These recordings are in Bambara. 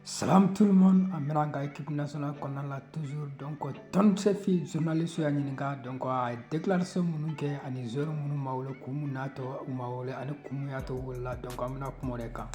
Salam tout le monde an bɛna an ka équipe nationale kɔnɔna la toujours donc Tom Saintfiet journaliste y'a ɲininka donc a ye déclaration minnu kɛ ani joueur minnu ma wele kun mun n'a to u ma wele ani kun mun y'a to u welela donc an bɛna kuma o de kan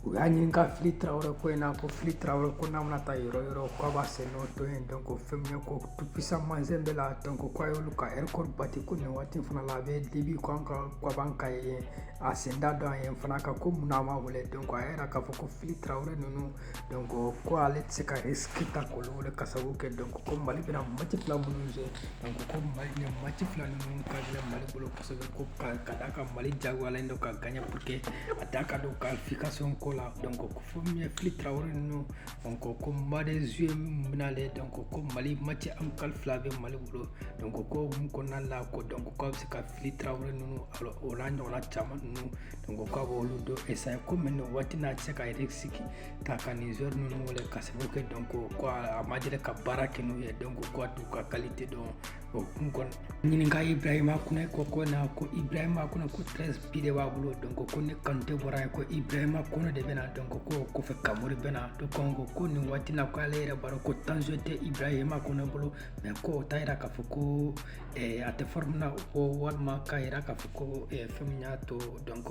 u y'a ɲininka Fili Traoré ko in na ko Fili Traoré ko n'a bɛna taa yɔrɔ yɔrɔ k'a b'a sen nɔ to yen donc fɛn min ye ko Tout Puissant Mazembe la donc k'a y'olu ka record bati ko nin waati fana la a bɛ Libye ko an ka ko a b'an ka yen a sen da dɔ an ye fana nka ko mun n'a ma wele donc a y'a yira k'a fɔ ko fili tarawele ninnu donc ko ale tɛ se ka risque ta k'olu wele ka sababu kɛ donc ko mali bɛna mati fila minnu se donc ko mali nin mati fila ninnu ka gɛlɛn mali bolo kosɛbɛ ko ka ka d'a kan mali jagoyalen don ka gaɲɛ pour que a da ka don qualification ko la donc ko fɛn min ye fili tarawele ninnu donc ko mois de juillet min bɛna ale donc ko mali mati amicale fila bɛ mali bolo donc ko hukumu kɔnɔna la ko donc k'a bɛ se ka fili tarawele ninnu o n'a ɲɔgɔnna caman ninnu donc k'a b'olu dɔ esaye ko mais nin waati n'a tɛ se ka yɛrɛ sigi k'a ka nin joueur ninnu wele ka sababu kɛ donc ko a ma deli ka baara kɛ n'u ye donc ko a t'u ka kalite dɔn o kɔ u nan'a ɲininka ibrahima kɔnɛ ko in na ko ibrahima kɔnɛ ko treize bi de b'a bolo donc ko ni kanute bɔra ye ko ibrahima kɔnɛ de bɛna donc ko kɔfɛ kamori bɛna to kan ko ko nin waati na ko ale yɛrɛ b'a dɔn ko temps de jeu tɛ ibrahima kɔnɛ bolo mais ko o t'a yira k'a fɔ ko e, a tɛ fɔrɔmu na ko walima k'a yira k'a fɔ ko e, fɛn min y'a to donc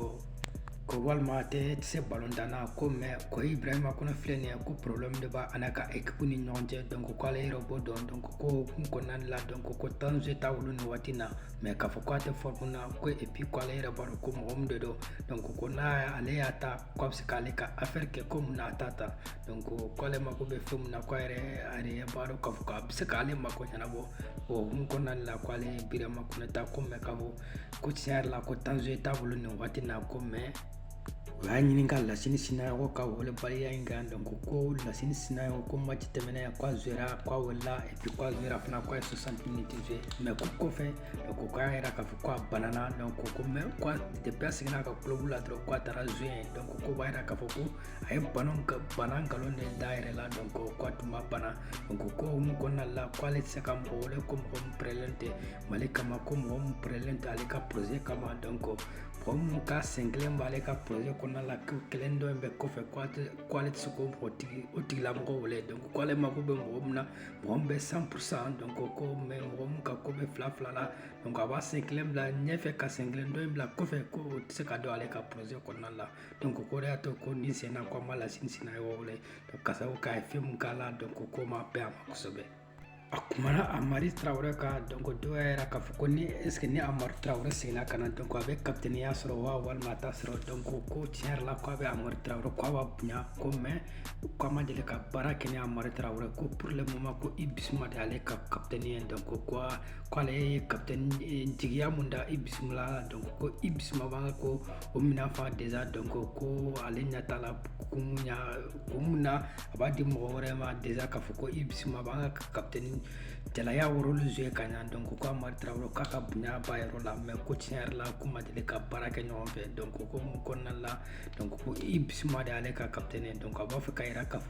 ko walima a tɛ se balɔn tan na ko mɛ ko ibrahima kɔnɛ filɛ nin ye ko problème de b'a a n'a ka équipe ni ɲɔgɔn cɛ donc ko ale yɛrɛ b'o dɔn donc ko hukumu kɔnɔna la donc ko temps de jeu t'a bolo nin waati na mɛ k'a fɔ ko a tɛ fɔrɔmu na ko et puis ko ale yɛrɛ b'a dɔn ko mɔgɔ min de don donc ko n'a ale y'a ta ko a bɛ se k'ale ka affaire kɛ ko mun na a t'a ta donc k'ale mako bɛ fɛn min na ko yɛrɛ a yɛrɛ b'a dɔn k'a fɔ k'a bɛ se k'ale mako ɲɛnabɔ o hukumu kɔnɔna de la ko ale ye ibrahima kɔnɛ ta ko mɛ k'a fɔ ko tiɲɛ yɛrɛ la ko temps de jeu t'a bolo nin waati na ko mɛ u y'a ɲininka lasini sinayɔgɔ ka welebaliya in kan donc ko lasini sinayɔgɔ ko mati tɛmɛnen ko a zoyera ko a welela et puis ko a zoyera fana ko a ye 60 minutes jouer mais ko kɔfɛ donc ko a y'a yira k'a fɔ ko a banana donc ko mais ko depuis a seginna ka kulobu la dɔrɔn ko a taara zoye donc k'o b'a yira k'a fɔ ko a ye bana nkalon de da a yɛrɛ la donc ko k'a tun ma bana o ko ko hukumu kɔnɔna la ko ale tɛ se ka mɔgɔ wele ko mɔgɔ min pɛrɛlen tɛ mali kama ko mɔgɔ min pɛrɛlen tɛ ale ka proze kama donc ko mɔgɔ minnu ka sen kelen b'ale ka proze kɔnɔna la ko kelen tɔ in bɛ kɔfɛ ko ale tɛ se k'o mɔgɔ tigi o tigilamɔgɔ wele donc ko ale mako bɛ mɔgɔ min na mɔgɔ min bɛ cent pour cent donc ko ko mɛ mɔgɔ min ka ko bɛ fila fila la donc a b'a sen kelen bila ɲɛfɛ ka sen kelen tɔ in bila kɔfɛ ko o tɛ se ka don ale ka proze kɔnɔna la donc ko de y'a to ko ni senna ko an b'a lasini senna yɔrɔ wɛrɛ donc kasa ko k'a ye fɛn mun k'a la donc ko ma bɛn a ma kosɛbɛ a kumana amari tarawele ka donc dɔw y'a yira k'a fɔ ko ni est ce que ni amari tarawele seginna ka na donc a bɛ kapitɛniya sɔrɔ wa walima a t'a sɔrɔ donc ko tiɲɛ yɛrɛ la ko a bɛ amari tarawele ko a b'a bonya ko mais ko a ma deli ka baara kɛ ni amari tarawele ko pour le moment ko i bisuma de ale ka kapitɛni ye donc ko ko ale ye kapitɛni jigiya min da i bisuma la donc ko i bisuma b'an ka ko ko min'a fɔ a déjà donc ko ko ale ɲɛ t'a la kun ya kun mun na a b'a di mɔgɔ wɛrɛ ma déjà k'a fɔ ko i bisuma b'an ka kapitɛni jalaya o rôle jouer ka ɲa donc ko ko amari tarawele k'a ka bonya b'a yɔrɔ la mais ko tiɲɛ yɛrɛ la k'u ma deli ka baara kɛ ɲɔgɔn fɛ donc ko ko mun kɔnɔna la donc ko i bisuma de y'ale ka kapitɛni donc a b'a fɛ ka yira k'a fɔ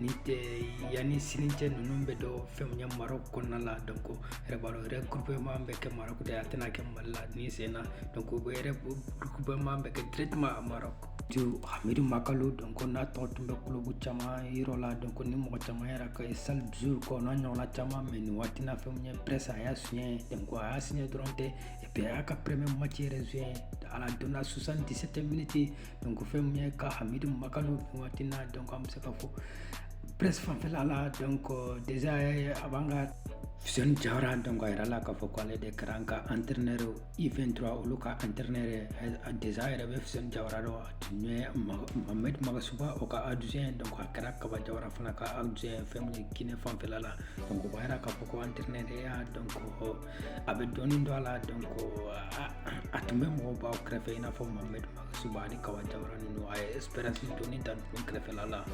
n'o tɛ yanni sini cɛ ninnu bɛ don fɛn min ye Maroc kɔnɔna la donc yɛrɛbalo regroupement bɛ kɛ Maroc de a tɛna kɛ Mali la nin sen na donc o bɛ regroupement bɛ kɛ directement à Maroc donc Hamidu Makalo donc n'a tɔgɔ tun bɛ club caman yɔrɔ la donc ni mɔgɔ caman yɛrɛ ko Salzbourg n'a ɲɔgɔnna caman mais nin waati na fɛn min ye Brest a y'a signé donc a y'a signé dɔrɔn tɛ et puis a y'a ka premier match yɛrɛ joué ale donna 77 minutes donc fɛn min ye ka hamidu makalo nin waati na donc an bɛ se ka fɔ Brest fanfɛla la donc euh, déjà a b'an ka Fuseni Jawara donc a yirala k'a fɔ ko ale de kɛra an ka entraîneur U23 olu ka entraîneur déjà yɛrɛ bɛ Fuseni Jawara dɔn a tun ye Mohamed Magasuba o ka adjoint donc a kɛra Kaba Jawara fana ka adjoint fɛn min ye Guinée fanfɛla la donc o b'a yira k'a fɔ ko entraîneur ya donc a bɛ dɔɔni dɔn a la donc a tun bɛ mɔgɔbaw kɛrɛfɛ i n'a fɔ Mohamed suba ni kaba jawara ninnu a ye expérience dɔɔni ta ninnu kɛrɛfɛla la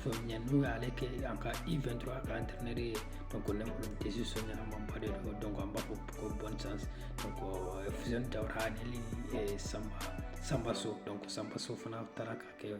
fɛn min ye n'u y'ale kɛ an ka U23 ka entraîneur ye donc ne kɔni décision ɲɛnamaba de don donc an b'a fɔ ko bonne chance donc fuseni jawara ani eh, samba samba so donc samba so fana taara ka kɛ